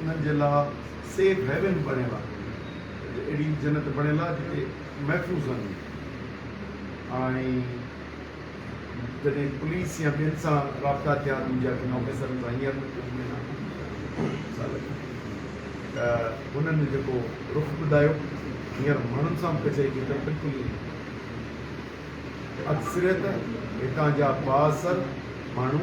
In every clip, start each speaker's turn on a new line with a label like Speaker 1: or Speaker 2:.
Speaker 1: انهن جي لاء سيف هيون بڻيل آهي، اهڙي جنت بڻيل آهي جتي محفوظ رهنديون آهن ۽ جڏهن پوليس يا ٻين سان رابطا ٿيا ته منهنجي اڳين آفيسرن سان هينئر مون کي ملڻ سال اڳ ته هنن جيڪو رخ ٻڌايو هينئر ماڻهن سان به ڪچهري ڪئي ته بلڪل ائين اڪثريت هتان جا بااثر ماڻهو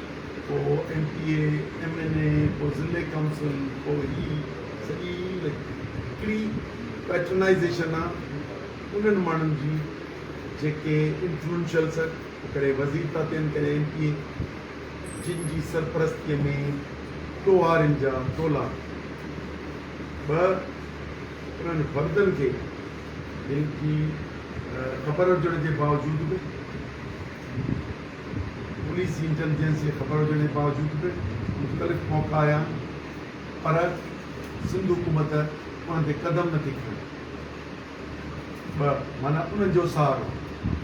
Speaker 1: پوء M P A, M N A, پوء ضلعي ڪائونسل، پوء هي سڄي هڪڙي پيٽرنائيزيشن آ انهن ماڻهن جي جيڪي انفلوئنشل سر ڪڏهن وزير ٿا ٿين ڪڏهن ايم پي اي جن جي سرپرستيء ۾ ٽوهارين جا ٽولا به انهن فردن کي جن جي خبر هجڻ جي باوجود به پوليس جي انٽيليجنس جي خبر هجڻ جي باوجود به مختلف موقعا آيا آهن پر سنڌ حڪومت انهن تي قدم نٿي کڻي. ٻه معنيٰ انهن جو سهارو.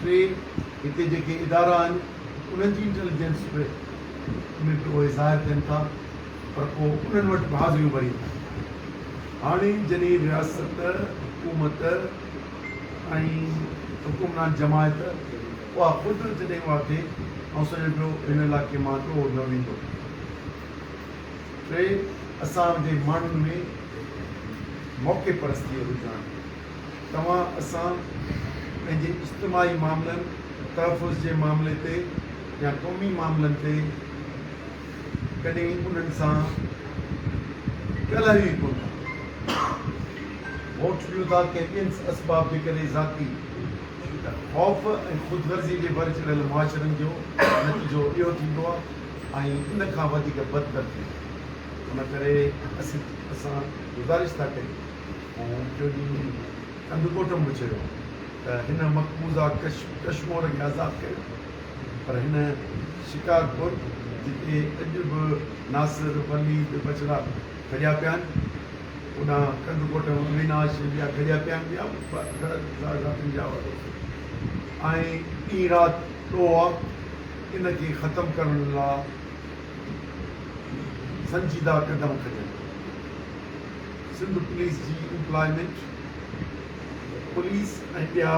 Speaker 1: ٽي هتي جيڪي ادارا آهن انهن جي انٽيليجنس به ۾ به اهي ظاهر ٿين ٿا پر پوء انهن وٽ به حاضريون ڀرين ٿا. هاڻي جڏهن رياست، حڪومت ۽ حڪمران جماعت، اها قدرت جڏهن اها ٿئي آئون سمجهان پيو هن علائقي مان ڏوهه نه ويندو. ٽي، اسان جي ماڻهن ۾ موقعي پرستيء جو رجحان. توهان اسان پنهنجي اجتماعي معاملن، تحفظ جي معاملي تي يا قومي معاملن تي ڪڏهن انهن سان ڳالهايو ئي ڪونه ٿا. ووٽ ڏيو ٿا ڪنهن ٻين اسباب جي ڪري ذاتي خوف ۽ خود غرضي جي ڀر چڙهيل معاشرن جو نتيجو اهو ٿيندو آهي ۽ ان کان وڌيڪ بدتر ٿيندو آهي. ان ڪري اسان گذارش ٿا ڪريون ۽ ٻيو ڏينهن به ڪنڌ ڳوٺ ۾ چيو ته هن مقبوضه ڪشمور کي آزاد ڪريو پر هن شڪارپور جتي اڄ به ناصر، وليد، بجرا، کڄيا پيا آهن، اوڏانهن ڪنڌ ڪوٽ اويناش جي ٻيا کڄيا پيا آهن، ٻيا به گهڻا سارا ساٿين جا وڏو ۽ ڏينهن رات ڏوهه آ، ان کي ختم ڪرڻ لا سنجيده قدم کڄن ٿا، سنڌ پوليس جي امپلائمينٽ پوليس ۽ ٻيا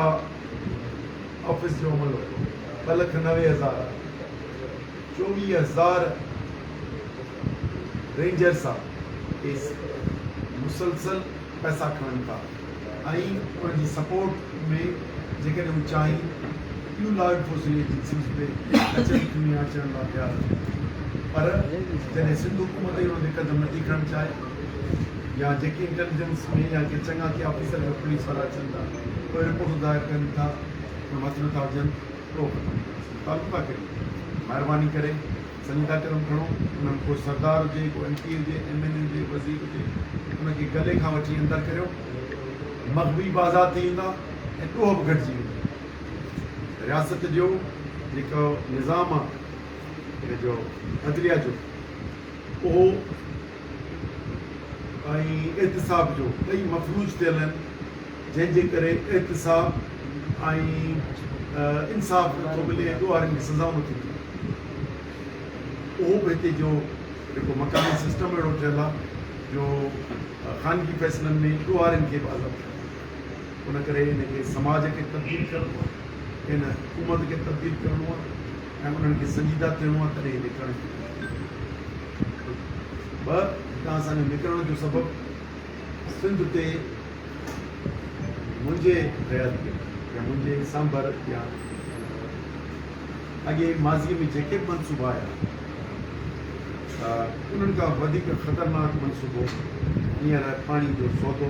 Speaker 1: آفيس جو عملو ٻه لک نوي هزار آهي. چوويهه هزار رينجرز آ ايس مسلسل پئسا کڻن ٿا ۽ ان جي سپورٽ ۾ جيڪڏهن هو چاهين ٻيون لا انفورسنگ ايجنسيز به اچن ٿيون يا اچڻ لا تيار هجن پر جڏهن سنڌ حڪومت ئي ان تي قدم نٿي کڻڻ چاهي يا جيڪي انٽيليجنس ۾ يا ڪي چڱا ٿيا آفيسر جو پوليس وارا اچن ٿا پوء رپورٽون دائر ڪن ٿا پر هٿ نٿا وجهن. ٿو فرق ٿا ڪريون مھرباني ڪري سنگ ٿا قدم کڻو انھن ڪو سردار ھجي ڪو ايم پي ھجي ايم اين اي ھجي وزير ھجي ان کي گلي کان وٺي اندر ڪريو مغوي به آزاد ٿي ويندا ۽ ڏوھ به گھٽجي ويندو رياست جو جيڪو نظام آ ان جو عدليه جو اھو ۽ احتساب جو ٻئي مفلوج ٿيل آهن جنهن جي ڪري احتساب ۽ انصاف نٿو ملي ۽ ڏوهارين کي سزائون نٿيون ملن اهو به هتي جو جيڪو مڪاني سسٽم اهڙو ٺهيل آهي جو خانگي فيصلن ۾ ڏوهارين کي به عزت ان ڪري ان کي سماج کي تبديل ڪرڻو آهي ان حڪومت کي تبديل ڪرڻو آهي ۽ انهن کي سنجيده ٿيڻو آهي تڏهن هي نڪرڻ جي ڪوشش ڪندا. ٻه، هتان اسان جو نڪرڻ جو سبب سنڌ تي منهنجي حياتيت يا منهنجي سانڀر يا اڳي ماضيء ۾ جيڪي به منصوبا آيا انهن کان وڌيڪ خطرناڪ منصوبو هينئر پاڻي جو سودو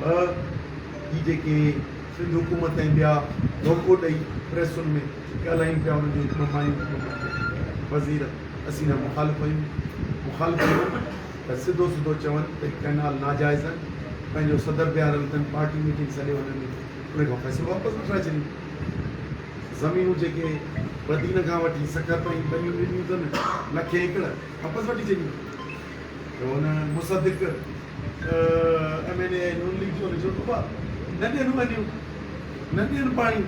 Speaker 1: ڀء جي جيڪي سنڌ حڪومت ۽ ٻيا ڌوڪو ڏئي پريسن ۾ ڳالهايون پيا انهن جون هڪ ٻه مايون ٿي پونديون. وزير اسين جا مخالف آهيون مخالف آهيون ته سڌو سڌو چون ته هي ڪئنال ناجائز آهن پنهنجو صدر بيهاريل اٿن پارٽي ميٽنگ سڏي هن ۾ انهن کان فيصلو واپس وٺرائي ڇڏيون زمينون جيڪي بدين کان وٺي سکر تائين ٻنيون ڏنيون اٿن لکين ايڪڙ واپس وٺي ڇڏيون ته هن Musaddiq M N A ۽ Noon league جون رجحون صوبا نه ڏين وڃيون نه ڏين پاڻي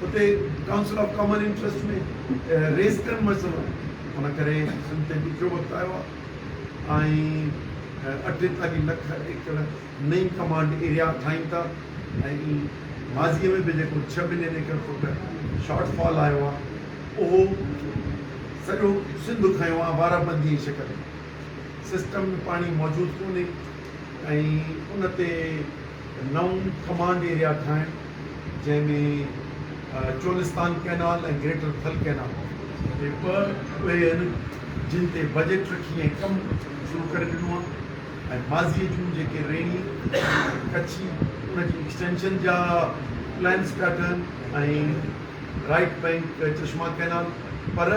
Speaker 1: اتي ڪائونسل آف ڪامن انٽرسٽ ۾ ريز ڪن مسئلو ان ڪري سنڌ تي ڏکيو وقت آيو آهي ۽ اٺيتاليھ لک ايڪڙ نئين ڪمانڊ ايريا ٺاهين ٿا ۽ ماضي ۾ به جيڪو ڇهه million acre foot shortfall آيو آهي اهو سڄو سنڌ کنيو آهي بارابندي جي شڪل ۾ سسٽم ۾ پاڻي موجود ڪونهي ۽ ان تي نئون ڪمانڊ ايريا ٺاهڻ جنهن ۾ Cholistan canal ۽ greater Thal canal جي ٻه اهي آهن جن تي بجيٽ رکي ۽ ڪم شروع ڪري ڏنو آهي ۽ ماضي جون جيڪي ريڻي ۽ ڪڇي ان جي ايڪسٽينشن جا پلانس پيا ٺهن ۽ رائيٽ بئنڪ چشما ڪئنال پر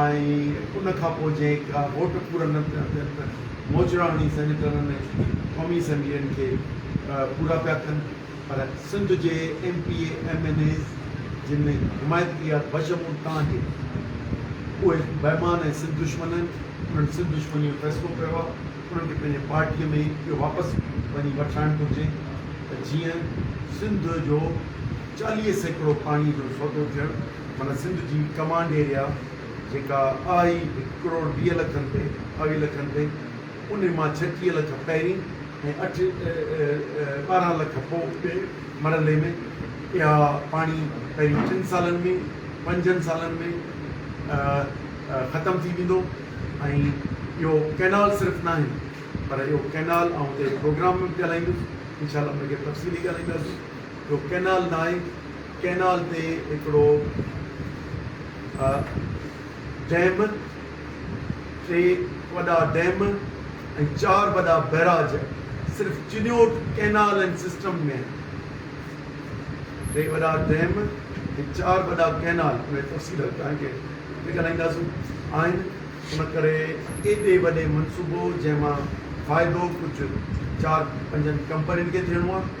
Speaker 1: ۽ ان کان پوء جنهن ڪا ووٽ پورا نه پيا ٿين ته موچڙا هڻي سينيٽرن ۽ قومي اسيمبلين کي پورا پيا ڪن پر سنڌ جي M P A M N As جن ۾ حمايت ڪئي آهي بشمول توهان جي اهي بيمان ۽ سنڌ دشمن آهن انهن سنڌ دشمني جو فيصلو ڪيو آهي انهن کي پنهنجي پارٽي ۾ ئي اهو واپس وڃي وٺرائڻ گهرجي ته جيئن سنڌ جو چاليهه سيڪڙو پاڻي جو سودو ٿيڻ معنيٰ سنڌ جي ڪمانڊ ايريا جيڪا آهي هڪ ڪروڙ ويهه لکن تي ٻاويهه لکن تي انهي مان ڇٽيهه لک پهرين ۽ اٺ ٻارهن لک پوء ٻئي مرحلي ۾ اها پاڻي پهرين ٽن سالن ۾ پنجن سالن ۾ ختم ٿي ويندو ۽ اهو ڪئنال صرف ناهي پر اهو ڪئنال آئون اتي پروگرام ۾ به ڳالهائيندس انشاء الله ان کي تفصيلي ڳالهائينداسين. جو ڪئنال نائين ڪئنال تي هڪڙو ڊيم، ٽي وڏا ڊيم ۽ چار وڏا بئراج صرف چنيوٽ ڪئنال اينڊ سسٽم ۾ آهن. ٽي وڏا ڊيم ۽ چار وڏا ڪئنال ان جي تفصيل توهان کي اڳتي ڳالهائينداسون آهن ان ڪري ايڏي وڏي منصوبو جنهن مان فائدو ڪجهه چار پنجن ڪمپنين کي ٿيڻو آهي.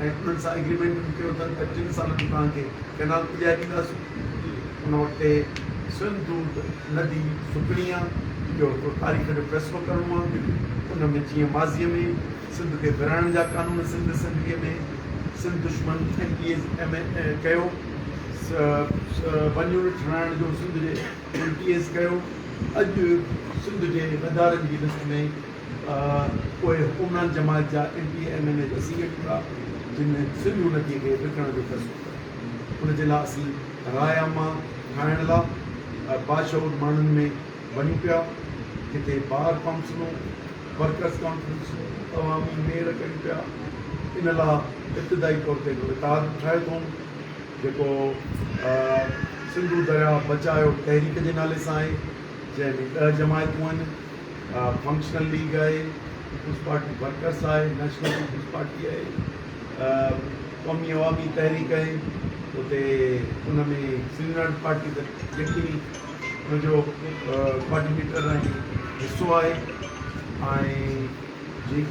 Speaker 1: ۽ انهن سان ايگريمينٽ به ڪيو اٿن ته ٽن سالن ۾ پاڻ کي ڪئنال پڄائي ڏينداسون. ان وقت تي سنڌ دود ندي سڪڻي آ. اهو هڪڙو تاريخ جو فيصلو ڪرڻو آ. ان ۾ جيئن ماضيء ۾ سنڌ کي ورهائڻ جا قانون سنڌ اسيمبليء ۾ سنڌ دشمن ايم پي ايز ايم اي ڪيو ون يونٽ ٺهرائڻ جو سنڌ جي ايم پي ايز ڪيو اڄ سنڌ جي غدارن جي لسٽ ۾ پوء عمران جماعت جا M P A M N A ته سيئي ٺھندا جن ۾ سنڌو نديء کي وڪڻڻ جو فيصلو ڪيو ان جي لاء اسين راء عامه ٺاھڻ لاء باشعور ماڻھن ۾ وڃون پيا جتي بار ڪائونسلون ورڪرز ڪانفرنسون عوامي ميڙ ڪيون پيا ان لاء ابتدائي طور تي ھڪ اتحاد به ٺاھيو اٿئون جيڪو سنڌو درياھ بچايو تحريڪ جي نالي سان آھي جنھن ۾ ڏھ جماعتون آھن. فنڪشنل ليگ آهي، پيپلز پارٽي ورڪرس آهي، نيشنل پيپلز پارٽي آهي، قومي عوامي تحريڪ آهي، اتي ان ۾ سينيورٽ پارٽي ته يقيني ان جو ڪوآرڊينيٽر ۽ حصو آهي ۽ جي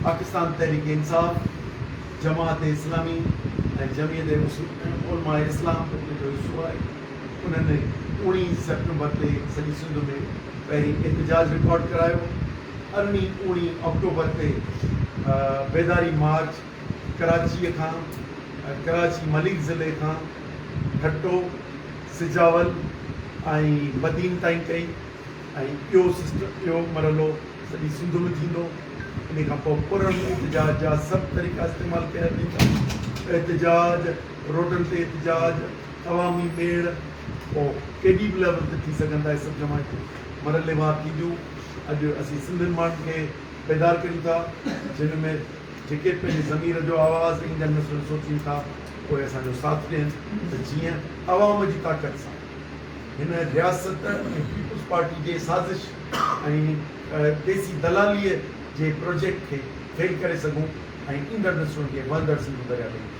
Speaker 1: پاڪستان تحريڪ انصاف، جماعت اسلامي ۽ جمعيت علماء اسلام ان جو حصو آهي. انهن اوڻي سيپٽمبر تي سڄي سنڌ ۾ پهرين احتجاج رڪارڊ ڪرايو. ارڙهين اوڻي آڪٽوبر تي بيداري مارچ ڪراچيء کان، ڪراچي مليڪ ضلعي کان ٺٽو، سجاول ۽ بدين تائين ڪئي ۽ اهو مرحلو سڄي سنڌ ۾ ٿيندو. انهيء کان پوء پرڻهين احتجاج جا سڀ طريقا استعمال ڪيا ويندا. احتجاج، روڊن تي احتجاج، عوامي ميڙ او ڪيڏي به ليول تي ٿي سگهن ٿا اهي سڀ جماعتون مرحلي وار ٿينديون اڄ اسين سنڌين ماڻهن کي بيدار ڪريون ٿا جن ۾ جيڪي پنهنجي ضمير جو آواز ايندڙ نسلن سوچين ٿا اهي اسان جو ساٿ ڏين ته جيئن عوام جي طاقت سان هن رياست ۽ پيپلز پارٽي جي سازش ۽ ديسي دلالي جي پروجيڪٽ کي فيل ڪري سگهون ۽ ايندڙ نسلن کي وهندڙ سنڌو دريا تي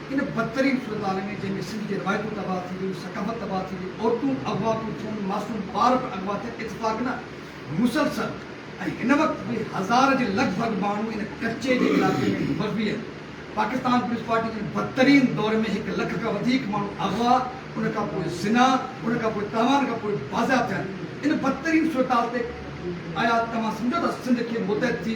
Speaker 2: ان بدترين صورتحال ۾ جنهن ۾ سنڌ جي روايتون تباهه ٿي ويون، ثقافت تباهه ٿي وئي، عورتون اغوا پيون ٿين، معصوم ٻار به اغوا ٿين، اتفاق نه، مسلسل ۽ هن وقت به هزار جي لڳ ڀڳ ماڻهو ان ڪچي جي علائقي ۾ مغوي آهن. پاڪستان پوليس پارٽي ان بدترين دور ۾ هڪ لک کان وڌيڪ ماڻهو اغوا، ان کان پوء زنا، ان کان پوء تاوان کان پوء بازياب ٿيا آهن. ان بدترين صورتحال تي آيا توهان سمجهو ٿا سنڌ کي متحد ٿي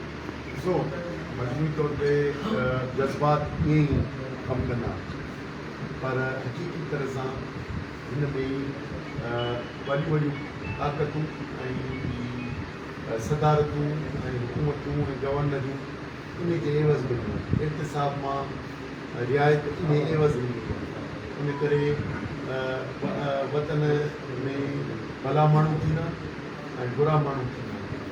Speaker 2: ڏسو
Speaker 1: مجموعي طور تي جذبات ائين ئي ڪم ڪندا پر حقيقي طرح سان هن ۾ ئي وڏيون وڏيون طاقتون ۽ صدارتون ۽ حڪومتون ۽ گورنريون انهي جي عيوض مليون آهن احتساب مان رعايت انهي عيوض ملي آهي ان ڪري وطن ۾ ڀلا ماڻهو ٿيندا ۽ برا ماڻهو ٿيندا.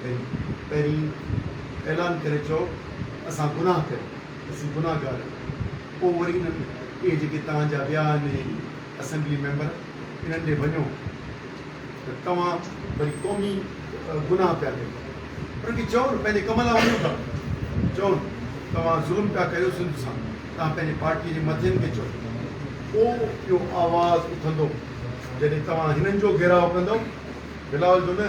Speaker 1: پهرين اعلان ڪري چئو اسان گناهه ڪيو اسين گناهگار آهيون پوء وري انهن اهي جيڪي توهان جا ويا آهن اهي اسيمبلي ميمبر انهن ڏي وڃو ته توهان وري قومي گناهه پيا ڪيو انهن کي چئو نه پنهنجي ڪم لاء وڃو ٿا چئو نه توهان ظلم پيا ڪريو سنڌ سان توهان پنهنجي پارٽي جي مٿين کي چئو پوء اهو آواز اٿندو جڏهن توهان هنن جو گهيراء ڪندو بلاول جو نه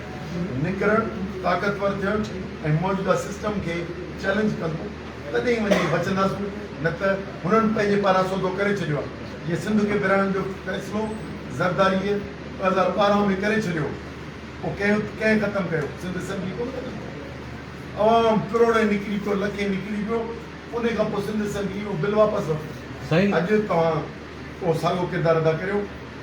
Speaker 1: نڪرڻ، طاقتور ٿيڻ ۽ موجوده سسٽم کي چئلينج ڪندو تڏهن ئي وڃي بچنداسون نه ته هنن پنهنجي پاران سودو ڪري ڇڏيو آهي جي سنڌ کي ورهائڻ جو فيصلو زرداريء ٻه هزار ٻارهن ۾ ڪري ڇڏيو هو پوء ڪنهن ڪنهن ختم ڪيو سنڌ اسيمبلي ڪونه ختم ڪئي عوام ڪروڙين نڪري پيو لکين نڪري پيو انهي کان پوء سنڌ اسيمبلي اهو بل واپس ورتو اڄ توهان اهو ساڳو ڪردار ادا ڪريو.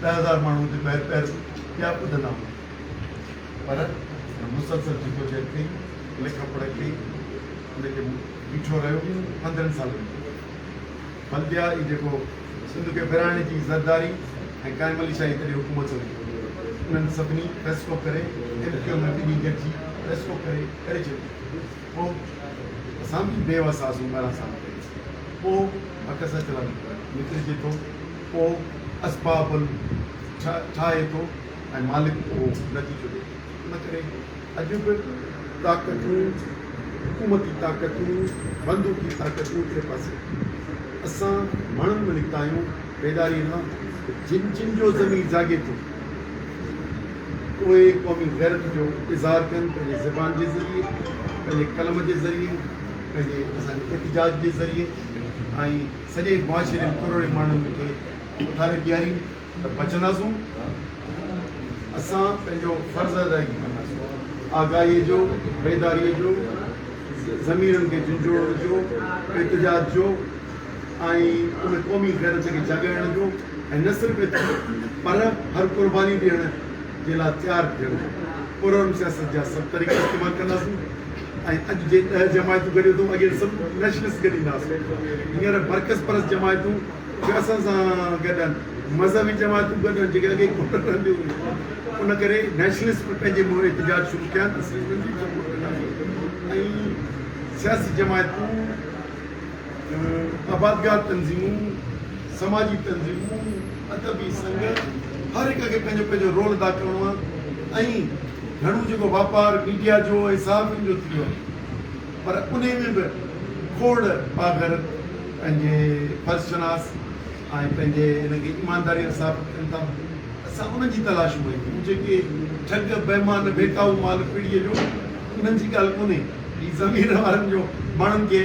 Speaker 1: ڏهه هزار ماڻهو اتي پهر پهر پيا ٻڌندا هئا پر هن مسلسل جدوجهد ڪئي لک پڙهه ڪئي ان کي بيٺو رهيو پندرهن سالن بلديا هي جيڪو سنڌ کي ورهائڻ جي زرداري ۽ قائم علي شاهي تڏهن حڪومت هئي انهن سڀني فيصلو ڪري ايم ڪيو ۾ ٻنهي گڏجي فيصلو ڪري ڪري ڇڏيو پوء اسان به بي وس آسون ڳاڙها صاف ڪري پوء عڪس اچرا نڪرجي ٿو پوء اسباب ٺاهي ٿو ۽ مالڪ اهو نتيجو ڏئي ٿو ان ڪري اڄ به طاقتون حڪومتي طاقتون بندوقي طاقتون ٽي پاسي اسان مڻن ۾ نڪتا آهيون پيدائي لاء جن جن جو ضمير جاڳي ٿو اهي قومي غيرت جو اظهار ڪن پنهنجي زبان جي ذريعي، پنهنجي قلم جي ذريعي، پنهنجي اسان جي احتجاج جي ذريعي ۽ سڄي معاشري ۾ ڪروڙين ماڻهن کي اٿاري بيهارين ته بچنداسون اسان پنهنجو فرض ادائگي ڪنداسون آگاهي جو بيداري جو ضميرن کي جنجهوڙڻ جو احتجاج جو ۽ ان قومي غيرت کي جاڳائڻ جو ۽ نه صرف ايترو پر هر قرباني ڏيڻ جي لاء تيار ٿيڻ جو پرامن سياست جا سڀ طريقا استعمال ڪنداسون ۽ اڄ جي ڏهه جماعتون گڏيو اٿئون اڳي سڀ نيشنلسٽ گڏي نه هئاسون هينئر برڪس پرست جماعتون به اسان سان گڏ آهن مذهبي جماعتون گڏ آهن جيڪي اڳي ڪوٺن رهنديون هيون ان ڪري نيشنلسٽ به پنهنجي منهن احتجاج شروع ڪيا آهن ته سياسي جماعتون آبادگار تنظيمون، سماجي تنظيمون، ادبي سنگهه هر هڪ کي پنهنجو پنهنجو رول ادا ڪرڻو آهي ۽ گهڻو جيڪو واپار ميڊيا جو ۽ صحافين جو ٿيو آهي پر انهي ۾ به کوڙ پاگهر پنهنجي فرض شناس ۽ پنهنجي ان کي ايمانداري سان ثابت ڪن ٿا اسان انهن جي تلاش ۾ آهيون جيڪي ٺڳ بيمان ڀيٽائو مال پڙي جو انهن جي ڳالهه ڪونهي هي ضمير وارن جو ماڻهن کي